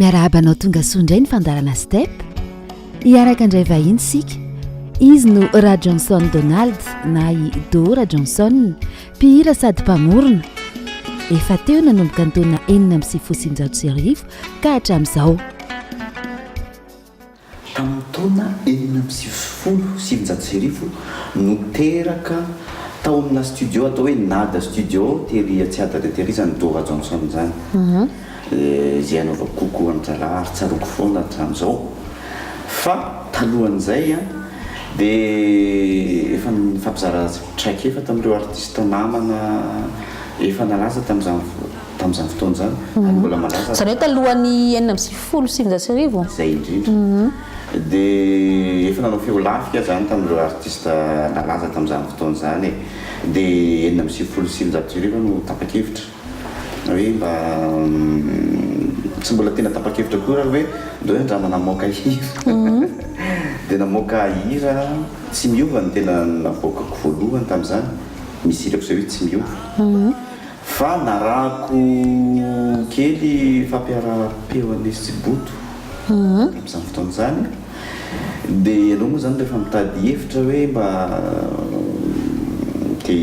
Miarahaba anao tonga soa indray ny fandarana step hiaraka indray vahiny isika izy no ra johnson donald na i dora johnson mpihira sady mpamorona efa teo nanomboka ny taona enina amin'ny sivifolo sy sivinjato sy arivo ka hatramin'izao Tamin'ny taona enina amby sivifolo sy sivinjato sy arivo no teraka tao amina studio atao hoe Nada Studio tery Tsiadana tery izany Dora Johnson izany. Izay anaovako coucou an-drahalahy ary tsaroako foana hatramin'izao. Fa talohan'izay dia efa nifampizara traikefa tamin'ireo artista namana efa nalaza tamin'izany fotoana. tamin'izany fotoana izany, ary mbola mandrasa. Izany hoe talohan'ny enina amby sivifolo sy sivinjato sy arivo? Izay indrindra. Dia efa nanao feo lafika izany tamin'ireo artista nalaza tamin'izany fotoana izany e. Dia enina amby sivifolo sy sivinjato sy arivo aho no tapa-kevitra hoe mba, tsy mbola tena tapa-kevitra akory ary hoe ndao hoe andramo namoaka hira. Dia namoaka hira Tsy miova no tena navoakako voalohany tamin'izany, misy hirako izay hoe Tsy miova. Fa narahako kely fampiaraham-peo an'i Miss Tsiboto tamin'izany fotoana izany. Dia ianao moa izany rehefa mitady hevitra hoe mba te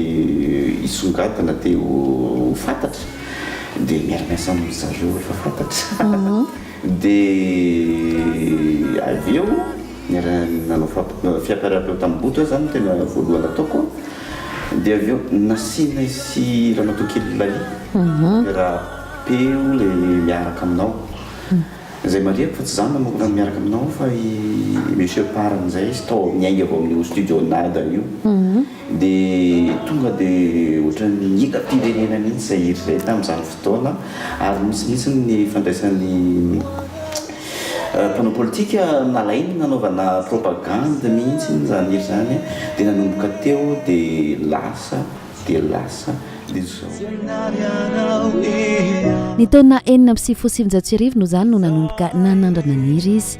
hisongadina, te ho fantatra dia miara-miasa amin-dry zareo efa fantatra. Dia avy eo niara-nanao fiakarapeo tamin'i Boto aho, izany no tena voalohany nataoko. Dia avy eo nasianay sy ramatoa kely Lalie fiakarapeo ilay miaraka aminao. Izay marihiko fa tsy izaho manokana no miaraka aminao fa i Monsieur Parr amin'izay izy tao niainga vao amin'io studio Nada io. Dia tonga dia ohatran'ny hitam-pirenena mihitsy izay hira izay tamin'izany fotoana ary nisy mihitsy ny fandraisan'ny mpanao politika nalainy nanaovana propagandy mihitsy izany hira izany dia nanomboka teo dia lasa dia lasa dia izao. Ny taona enina amby sivifolo sy sivinjato sy arivo no izany no nanomboka nanandrana ny hira izy.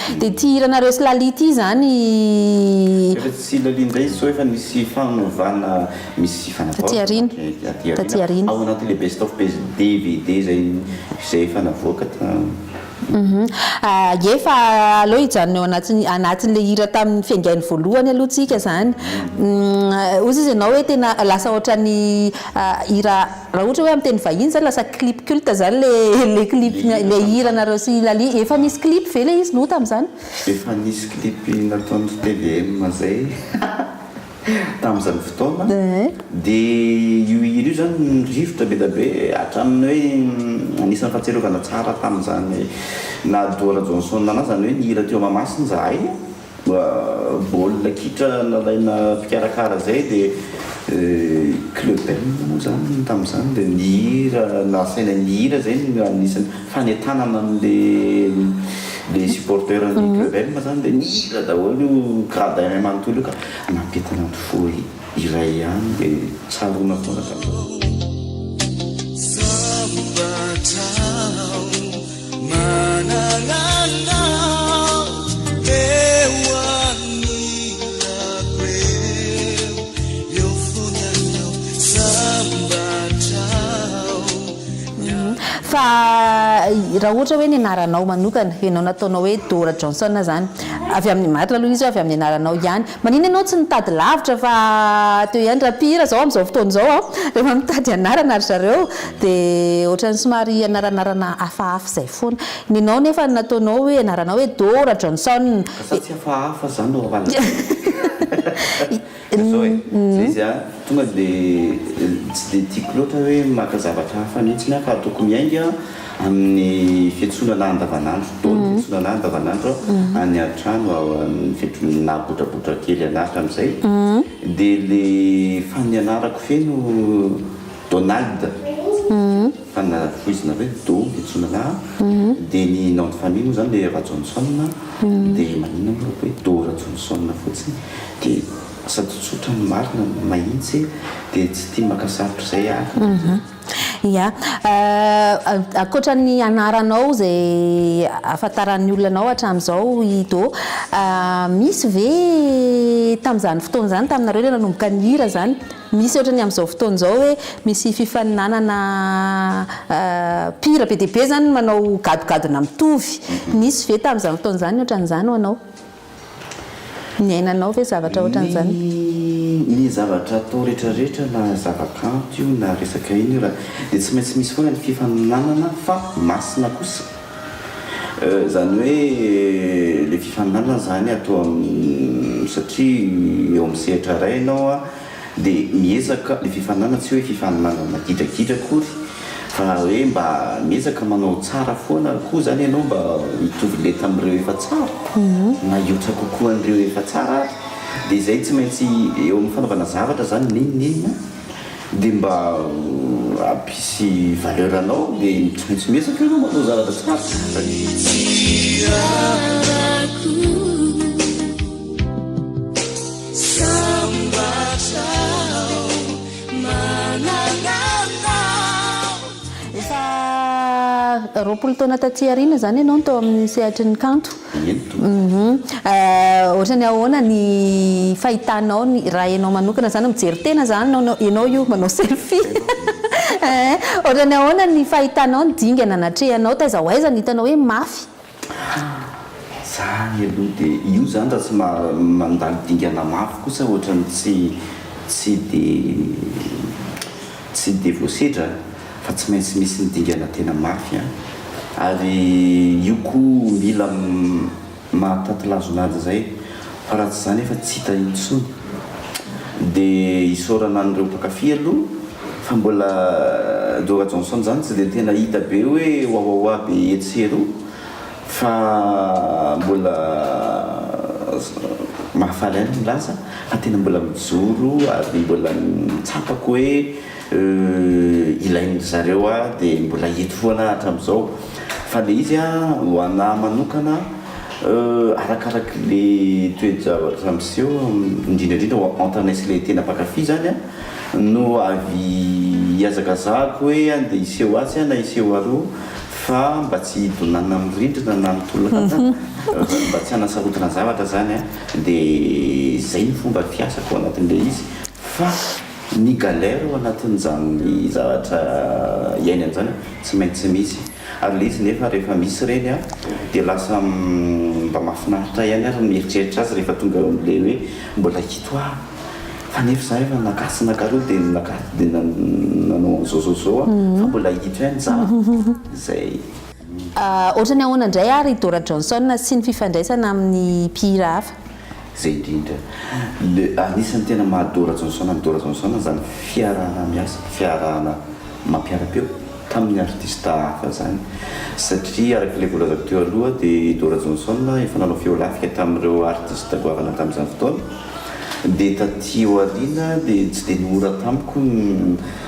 Dia ity hiranareo sy Laly ity izany. Efa tsy Laly indray izy sao efa nisy fanovana misy fanavaozana Taty aoriana Taty aoriana ao anatin'ilay best of best dvd izay izay efa navoaka tam. Ie fa aleo hijanona eo anatin'ny anatin'ilay hira tamin'ny fiaingainy voalohany aloha tsika izany. Hoy izy ianao hoe tena lasa ohatran'ny hira. Raha ohatra hoe amin'ny teny vahiny zany lasa clip culte zany le le clip le hiranareo sy lalie efa nisy clip ve le izy no tamzany? Efa nisy clip nataon'ny tvm zay tamzany fotoana de io hira io zany rivotra be da be hatramin'ny hoe anisan'ny fahatsiarovana tsara tamzany naha duo rajohnsson anah zany hoe nihira teo mahamasina zahay Baolina kitra nalaina mpikarakara izay dia club M moa izany tamin'izany dia ny hira nasaina ny hira izay no anisan'ny fanentanana an'ilay supporter an'ny club M izany dia ny hira daholo io gradin manontolo io ka nampientanan'ny fo ery. Iray ihany de tsaroana foana katra. Fa raha ohatra hoe ny anaranao manokana, ianao nataonao hoe Dora Johnson zany, avy amin'ny marina aloha izy hoe avy amin'ny anaranao ihany. Manina ianao tsy nitady lavitra fa teo ihany raha mpihira zao amin'izao fotoana izao an, rehefa mitady anarana ry zareo de ohatrany somary anaranarana hafahafa izay foana. Ny anao nefa ny nataonao hoe anaranao hoe Dora Johnson Ka sa tsy hafahafa zany no havalintena? Zao e, zay izy an, tonga de tsy de tiako loatra hoe maka zavatra hafa mintsy an fa ataoko miainga. Amin'ny fiantsoana lahy andavanandro, dôly ny fiantsoana lahy andavanandro any an-trano amin'ny fiantsoana lahy botrabotra kely an'Atra amin'izay dia ilay fanianarako feno Donald fana foizina hoe Dô ny fiantsoana lahy dia ny nom de famille moa izany ilay Rajohnson dia maninona moa raha hoe Dô Rajohnson fotsiny dia sady tsotra no marina no mahitsy dia tsy tia maka sarotra izay aho. Ia. Ankoatra ny anaranao izay ahafantaran'ny olona anao hatramin'izao i Do, misy ve tamin'izany fotoana izany taminareo ilay nanomboka nihira izany, misy ohatran'ny amin'izao fotoana izao hoe misy fifaninanana mpihira be dia be izany manao gadogadona mitovy, nisy ve tamin'izany fotoana izany ny ohatran'izany ho anao? Niainanao ve zavatra ohatran'izany? Ny zavatra atao rehetra rehetra na zava-kanto io na resaka inona io raha dia tsy maintsy misy foana ny fifaninanana fa masina kosa izany hoe ilay fifaninanana izany atao satria eo amin'ny sehatra iray ianao a Dia miezaka, ilay fifaninanana tsy hoe fifaninanana gidragidra akory fa hoe mba miezaka manao tsara foana koa izany ianao mba hitovy lenta amin'ireo efa tsara na hihoatra kokoa an'ireo efa tsara ary. Dia izay tsy maintsy eo amin'ny fanaovana zavatra izany n'inon'inona dia mba hampisy valeur anao dia tsy maintsy miezaka ianao manao zavatra tsara. Efa roapolo taona taty aoriana izany ianao no tao amin'ny sehatry ny kanto. Ento. Ohatran'ny ahoana ny fahitanao ny, raha ianao manokana izany, mijery tena izany ianao, ianao io manao selfie. Ohatran'ny ahoana ny fahitanao ny dingana natrehanao, taiza ho aiza no hitanao hoe mafy Ha! zany aloha dia io zany raha tsy mandalo dingana mafy kosa ohatran'ny tsy tsy dia tsy dia voasedra fa tsy maintsy misy ny dingana tena mafy an! ary io koa mila mahatatilazo nazy zay. Fa raha tsy izany efa tsy hita intsony. Dia isaorana an'ireo mpankafy aloha fa mbola Dora Johnson izany tsy dia tena hita be hoe wawawa be etsy sy eroa fa mbola mahafaly ahy ny milaza fa tena mbola mijoro ary mbola ny tsapako hoe Euh ilain'ny zareo ah de mbola eto foana ah hatramin'izao fa le izy ah ho anah manokana euh arakaraky le toe-javatra miseho indrindra indrindra ho entrainay sy le tena mpankafy zany ah no avy ihazakazahako hoe andeha hiseho atsy ah na hiseho aroa fa mba tsy hidonana amin'ny rindrina na ny tolona zany mba tsy hanasarotana zavatra zany ah de zay ny fomba fiasako anatin'le izy fa Ny galère ao anatin'izany zavatra iainany izany tsy maintsy misy, ary le izy nefa rehefa misy ireny dia lasa mba mahafinaritra ihany ary ny mieritreritra azy rehefa tonga eo amin'ilay hoe mbola hito aho fa nefa za efa naka sy naka roa dia naka dia nanao an'izao zao zao aho fa mbola hito ihany za izay. Ohatran'ny ahoana indray ary i Dora Johnson sy ny fifandraisana amin'ny mpihira hafa? Zay indrindra. Le anisany tena maha Dora Johnson an'i Dora Johnson zany fiarahana miasa, fiarahana mampiara-peo tamin'ny artista hafa zany. Satria araka ilay voalazako teo aloha dia i Dora Johnson efa nanao feo lafika tamin'ireo artista goavana tamin'izany fotoana. Dia taty aoriana dia tsy dia nihora tamiko ny.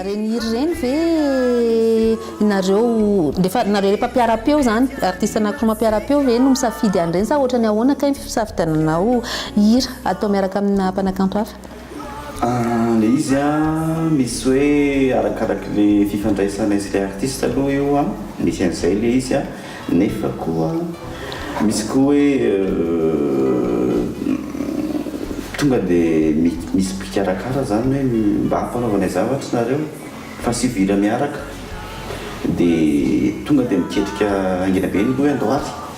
Ireny hira ireny ve nareo rehefa nareo rehefa mpiara-peo zany artiste anankiroa mampiara-peo ve no misafidy an'ireny sa ohatrany ahoana kay ny fisafidiananao hira atao miaraka amina mpanakanto hafa? Le izy an misy hoe arakaraky le fifandraisanay sy le artiste aloha io an, misy an'izay le izy an, nefa koa misy koa hoe tonga de misy mpikarakara zany hoe mba ampanaovanay zavatra nareo fa sivy hira miaraka de tonga de miketrika haingana be ny loha hoe andao ary.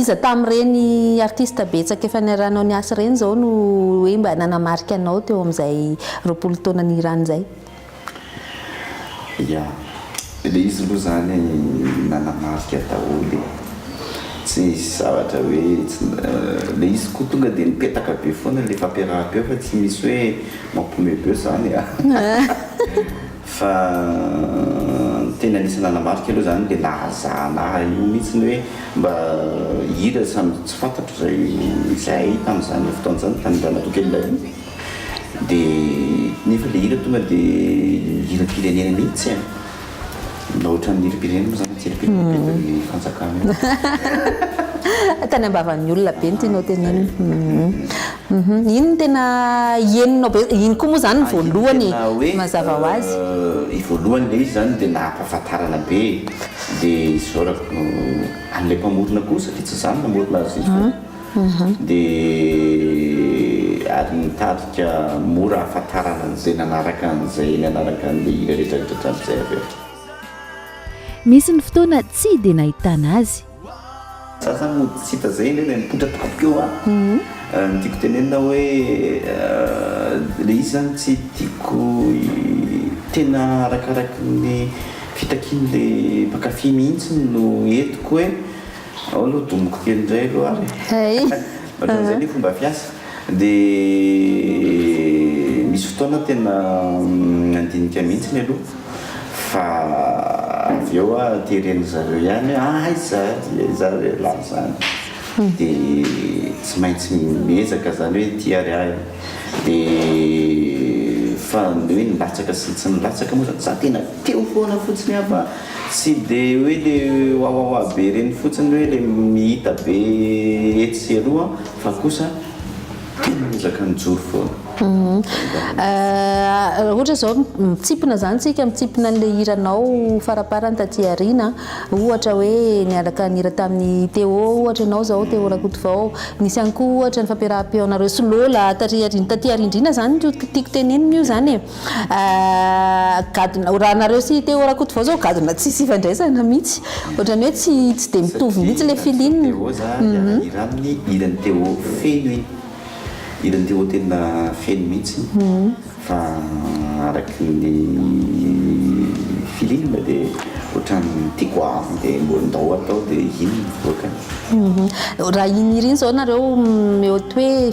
Iza tamin'ireny artista betsaka efa niarahanao niasa ireny izao no hoe mba nanamarika anao teo amin'izay roapolo taona nihirany izay? Ya, ilay izy aloha izany nanamarika daholo e. Tsy nisy zavatra hoe, ilay izy koa tonga dia nipetaka be foana ilay fampiaraham-peo fa tsy nisy hoe mampihomehy be izany an! Fa ny teny anisan'ny nanamarika aloha izany dia nahazana ahy io mihitsy ny hoe mba hira samy tsy fantatro izay izay ahy tamin'izany fotoana izany tamin'ny ramatoa kely Lalia dia nefa ilay hira tonga dia hiram-pirenena mihitsy e! Mba ohatran'ny hiram-pirenena moa izany ny tsiripiripiripirin'ny fanjakana io. Tany am-bavan'ny olona be ny tianao tenenina. Hum iny no tena henonao be, iny koa moa zany ny voalohany e, mazava ho azy. Ny voalohany ilay izy zany dia nahampahafantarana be e, dia isaorako an'ilay mpamorona koa satria tsy izaho no namorona azy iny fa dia ary nitarika mora hahafantarana an'izay nanaraka an'izay nanaraka an'ilay hira rehetra rehetra hatramin'izay avy eo. Nisy ny fotoana tsy dia nahitana azy. Za zany mody tsy hita zay indray le nipoitra tompoko teo a! Ny tiako tenenina hoe le izy zany tsy tiako tena arakaraky ny fitakiany le mpankafy mihitsy no entiko hoe ao aloha domiko kely indray aloha ary e! Ohatran'izay ny fomba fiasa. Dia misy fotoana tena nandinika mihitsy ny aloha fa avy eo aho teren'ny zareo ihany hoe aiza dia izaho re lahy izany dia tsy maintsy miezaka izany hoe ity ary ahy dia fa ny hoe nilatsaka sy tsy nilatsaka moa izany za tena teo foana fotsiny aho fa tsy dia hoe ilay wawawa be ireny fotsiny hoe ilay mihita be etsy sy eroa Fa kosa tena miezaka mijoro foana. Raha ohatra izao mitsimpona izany tsika, mitsimpona an'ilay hiranao faraparany taty aoriana, ohatra hoe niaraka nihira tamin'i Téo ohatra ianao izao, Téo Rakotovao, nisy ihany koa ohatra ny fampiaraham-peonareo sy Lola taty aoriana izany no tiako tenenina io izany e. Ahh gadona raha nareo sy Téo Rakotovao zao gadona tsisy ifandraisana mihitsy ohatrany hoe tsy tsy de mitovy mihitsy le feeling hiara-hira aminy hiran'i Téo feno iny hiran'i Téo tena feno mihitsy fa araky ny feeling de ohatrany tiako avo de mbola ndao atao de iny mivoaka. Raha iny hira iny zao nareo mi-oty hoe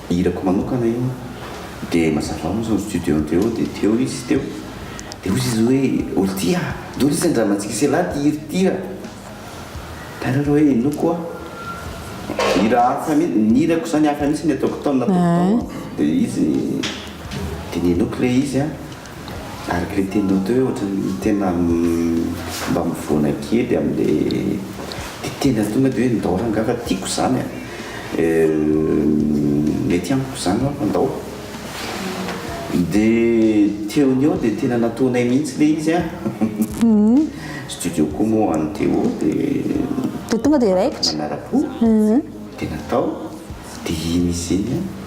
Hirako manokana io dia mazava ho azy ao studio-nty ao dia teo izy teo dia hozy izy hoe olo ty a! Doris andramantsika sy elah ty hira ty a! Tara reo hoe inoako hoa! Hira hafa mihintsy, ny hirako zany hafa mihintsy ny ataoko tao ny nataoko tao a! Dia izy dia ninoako ilay izy a! Ary ilay tianao atao hoe ohatran'ny tena mba mivoana kely amin'ilay dia tena tonga dia hoe ndao rangahy fa tiako izany a! mety amiko izany ho'a fa ndao! Dia teo ny eo dia tena nataonay mihitsy ilay izy a! Studio koa moa any Téo dia tonga dia raikitra! Nanara-po dia natao dia iny izy iny a!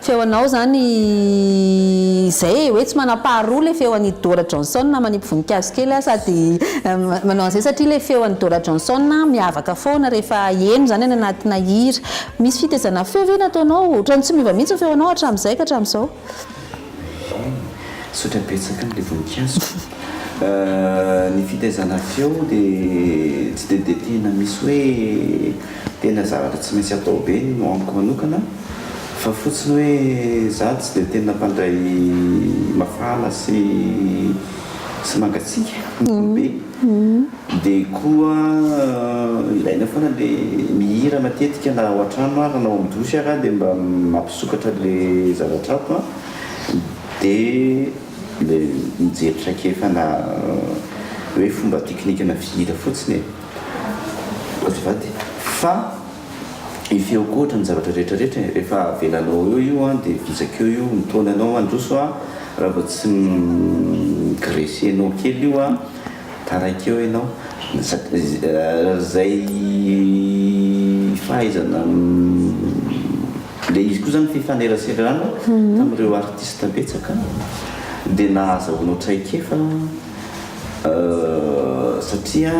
Feonao zany izay e, hoe tsy manam-paharoa le feon'i Dora Johnson manipy voninkazo kely aho sady manao an'izay satria le feon'i Dora Johnson miavaka foana rehefa heno zany any anatina hira. Misy fitezana feo ve nataonao? Ohatran'ny tsy miova mihitsy ny feonao hatramin'izay ka hatramin'izao. Eny, misaotra betsaka an'ilay voninkazo. Ny fitezana feo dia tsy dia dia tena misy hoe. Tena zavatra tsy maintsy atao be no amiko manokana fa fotsiny hoe za tsy dia tena mpandray mafana sy sy mangatsiaka fotsiny be dia koa ilaina foana le mihira matetika na ao an-trano ara na ao amin'ny douche ara dia mba mampisokatra le zavatra ato an dia le mijery traikefana hoe fomba teknikana fihira fotsiny e. Azafady fa i feo koa ohatran'ny zavatra rehetra rehetra e! Rehefa avelanao eo io an dia vizaka eo io mitaona anao mandroso an! Raha vao tsy mi-graisser-nao kely io an, taraiky eo ianao! Izay fahaizana Ilay izy koa izany fifaneraserana tamin'ireo artista betsaka dia nahazahoanao traikefa satria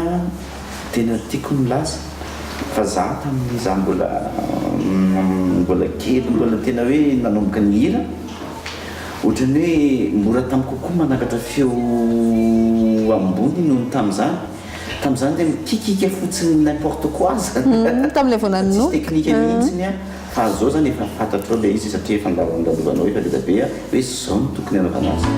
tena tiako ny milaza fa za tamin'izaho mbola mbola kely mbola tena hoe nanomboka nihira ohatran'ny hoe mora tamiko kokoa manakatra feo ambony noho ny tamin'izany. Tamin'izany dia mikikika fotsiny n'importe quoi zany. Tamin'ilay vao nanonofy. Tsisy teknika mihitsiny an. Fa azon'izao zany efa fantatrao ilay izy satria efa andalovanao efa vita be an, hoe zao no tokony hanaovana azy.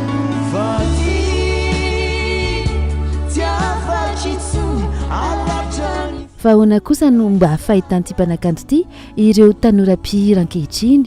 Fa ahoana kosa no mba fahitan'ity mpanakanto ity ireo tanora mpihira ankehitriny?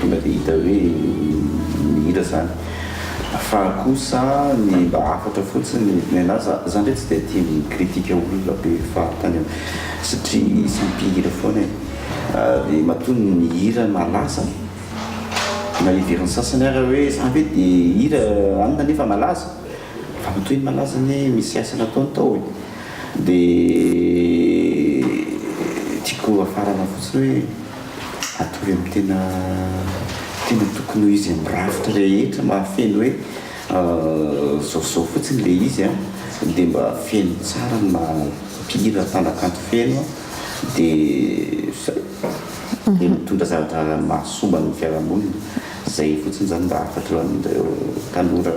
Tonga dia hita hoe mihira zany fa kosa ny mba hafatra fotsiny nenah za za ndray tsy dia tia mi critique olona be fahatany eo satria izy mpihira foana e dia matoa ny mihira malaza na heverin sasany ara hoe za ve dia hihira anona nefa malaza fa matoa iny malaza anie misy asa nataony tao e dia tiako hafarana fotsiny hoe Hatory amin'ny tena tena tokony ho izy amin'ny rafitra rehetra mahafeno hoe zao sy zao fotsiny ilay izy an, dia mba feno tsara ny maha mpihira mpanakanto feno an, dia izay, dia mitondra zavatra mahasoa ho an'ny fiarahamonina, izay fotsiny izany mba hahafantaran'ireo tanora.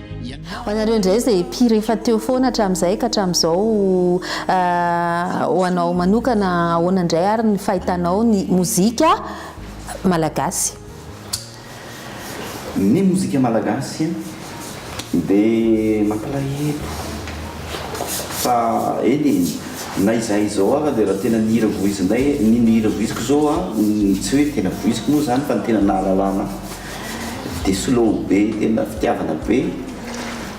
Ho anareo indray izay mpihira efa teo foana hatramin'izay ka hatramin'izao, ho anao manokana ahoana indray ary ny fahitanao ny mozika malagasy? Ny mozika malagasy dia mampalahelo fa eny e, na izahay izao ary dia raha tena nihira voizinay, ny nihira voiziko izao an, tsy hoe tena voiziko moa izany fa ny tena nahalalana. de slow be tena fitiavana be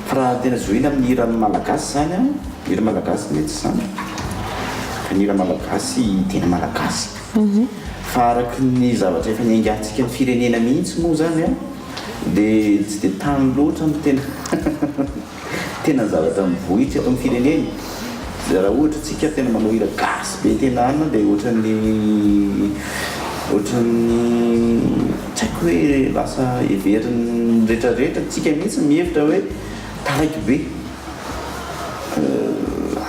fa raha tena zohina amin'ny hira malagasy zany an, hira malagasy ve tsy zany? fa ny hira malagasy tena malagasy fa araky ny zavatra efa niaingantsika amin'ny firenena mihitsy moa zany an de tsy de tany loatra ny tena Tena zavatra mivohitra eto am firenena de raha ohatra tsika tena manao hira gasy be tena anona de ohatran'ny ohatran'ny tsy haiko hoe lasa heverin'ny retraretra tsika mihitsy mihevitra hoe taraiky be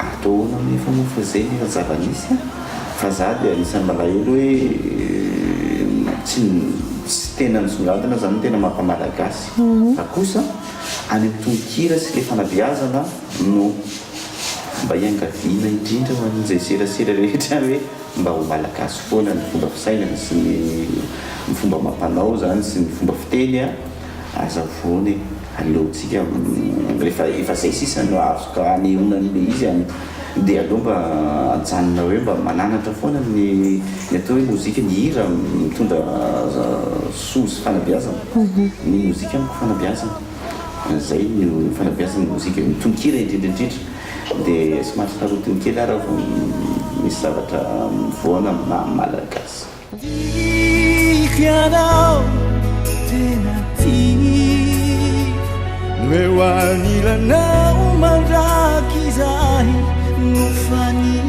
atao ahoana anefa moa fa zay no zava nisy a fa za de anisan'ny malahelo hoe tsy tena nisongadina zany tena maha mpamalagasy fa kosa Any amin'ny tononkira sy ilay fanabeazana no mba iangaviana indrindra ho an'izay serasera rehetra ihany hoe mba ho Malagasy foana ny fomba fisainana sy ny ny fomba amam-panao izany sy ny fomba fiteny a! Hazavona e! Aleontsika rehefa efa izay sisa no afaka hanehoana an'ilay izy an! Dia aleo mba ajanona hoe mba mananatra foana ny ny atao hoe mozika, ny hira mitondra Soa sy fanabeazana ny mozika amiko fanabeazana zay no fanabeazana ny mozika ny tononkira indrindra indrindra dia somary sarotiny kely aho raha vao misy zavatra mivoana amin'ny maha malagasy. Tiako ianao tena tiako no eo anilanao mandrakizay no faniriko.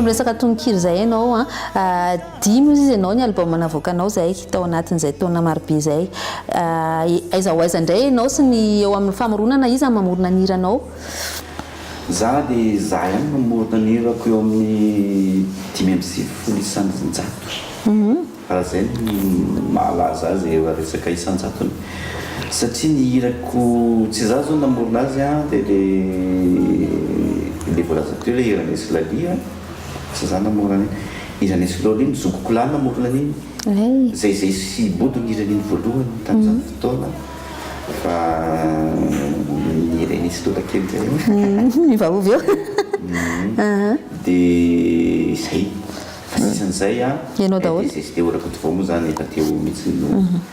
Miresaka tononkira izay ianao an. Adino izy ianao ny album navoakanao izay tao anatin'izay taona marobe izay. Aiza ho aiza indray ianao sy ny eo amin'ny famoronana? Iza no mamorona ny hiranao? Za dia za ihany no mamorona ny hirako eo amin'ny dimy amby sivifolo isan-jato. Raha izay no mahalaza azy eo amin'ny resaka isan-jatony. Satria ny hirako, tsy za izao namorona azy dia ilay ilay voalaza teo ilay hiran'Esy Lalia. Asa za namorona an'iny. Iza neslol iny? Zokiko lahy namorona an'iny. Zay zay sy bodo niry an'iny voalohany tamin'izany fotoana fa niry an'i Sdoda kely zay aho. Miovaova eo. Dia zay. Fa sisan'izay an. Ianao daholo. Dia zay sy dia ho rakotovao moa zany efa teo mihitsy no.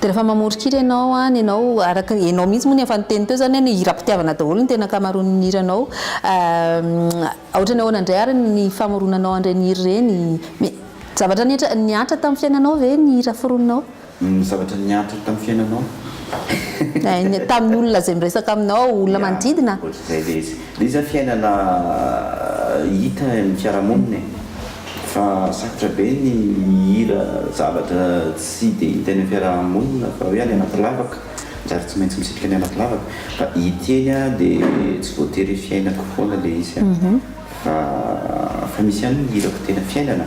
Dia rehefa mamoron-kira ianao an, ianao araka ny, ianao mihitsy moa ny efa niteny teo izany hoe ny hiram-pitiavana daholo ny tena ankamaroan'ny hiranao. Ohatran'ny ahoana indray ary ny famoronanao an'ireny hira ireny? Ny zavatra nihatra, nihatra tamin'ny fiainanao ve ny hira foroninao? Ny zavatra nihatra tamin'ny fiainanao? Tamin'ny olona izay miresaka aminao, olona manodidina? Ohatr'izay ilay izy. Ilay izy an fiainana hita eo amin'ny fiarahamonina e. Fa sarotra be ny mihira zavatra tsy dia hita eny am-piaraha-monina fa hoe any anaty lavaka, zary tsy maintsy misitrika any anaty lavaka. Fa ity anie an dia tsy voatery fiainako foana ilay izy an, fa fa misy ihany ny hirako tena fiainana,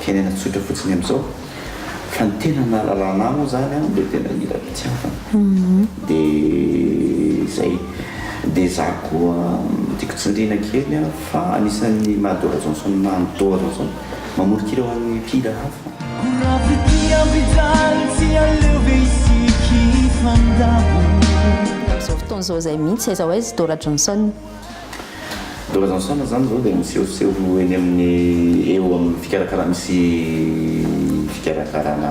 fiainana tsotra fotsiny amin'izao. Fa ny tena nahalalana ahy moa izany an, dia tena hira fitiavana. Dia izay. Dia izaho koa tiako tsindriana kely an, fa anisan'ny maha Dora Johnson ahy ny Dora Johnson, mamoron-kira ho an'ny mpihira hafa. Ho rafitia ampijaly tsy aleo ve isika hifandabo. Amin'izao fotoana izao izay mihitsy, aiza ho aiza i Dora Johnson? Dollars en somme zany zao dia misehoseho eny amin'ny eo amin'ny fikarakarana misy fikarakarana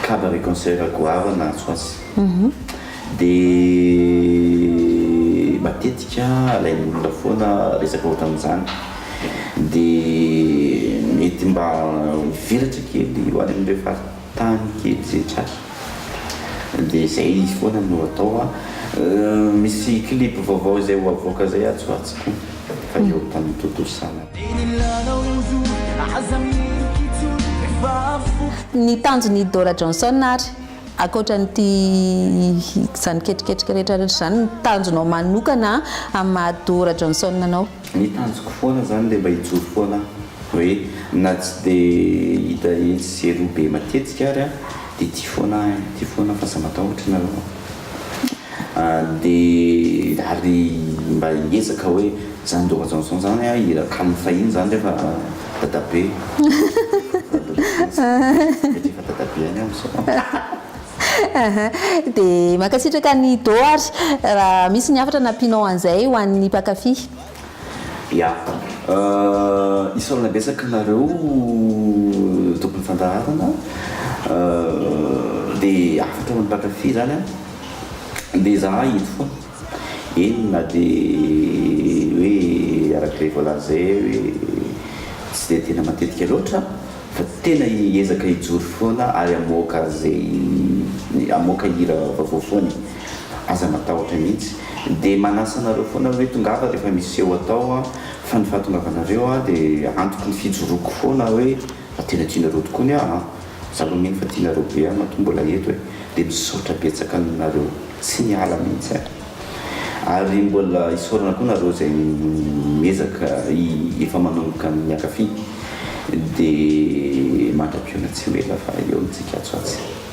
kaba re concert goavana atsy ho atsy mhm. dia matetika alain'ny olona foana resaka ohatran'izany dia mety mba hivelatra kely ho any amin'ireo faritra tany kely zay tsy azo de zay izy foana no atao a misy clip vaovao zay ho avoaka zay atsy ho atsy ko fa eo tany dodo sala. Ny tanjon' i Dora Johnson ary, ankoatra an'ity izany ketriketrika rehetra rehetra izany, ny tanjonao manokana amin'ny maha Dora Johnson anao? Ny tanjoko foana izany dia mba hijoro foana aho Hoe na tsy dia hita etsy sy eroa be matetika ary an, dia ity foana ahy, ity foana fa aza matahotra ianareo an. Dia ary mba hiezaka hoe zany Dora Johnson zany an, hira calme fahiny zany rehefa dadabe, satria efa dadabe any aho misao. Aha, dia mankasitraka an'i Do ary raha misy ny hafatra nampianao an'izay ho an'ny mpankafy. Ya. Isaorana betsaka anareo tompon'ny fandaharana. Dia hafatra amin'ny mpankafy izany an. Dia izahay eto foana. Eny na dia hoe araka ilay voalazay hoe tsy dia tena matetika loatra fa tena hiezaka hijoro foana ary hamoaka izay hamoaka hira vaovao foana e. Aza matahotra mihitsy de manasa anareo foana hoe tongava rehefa misy seho atao an, fa ny fahatongavanareo an de antoky ny fijoroako foana hoe fa tena tianareo tokoa ny ahy an, za lo mino fa tianareo be ahy matoa mbola eto e, de misaotra betsaka aminareo tsy miala mihitsy an, ary mbola isaorana koa nareo zay miezaka i efa manomboka miakafy de mandra-piona tsy ho ela fa eo ny tsika atsy ho atsy.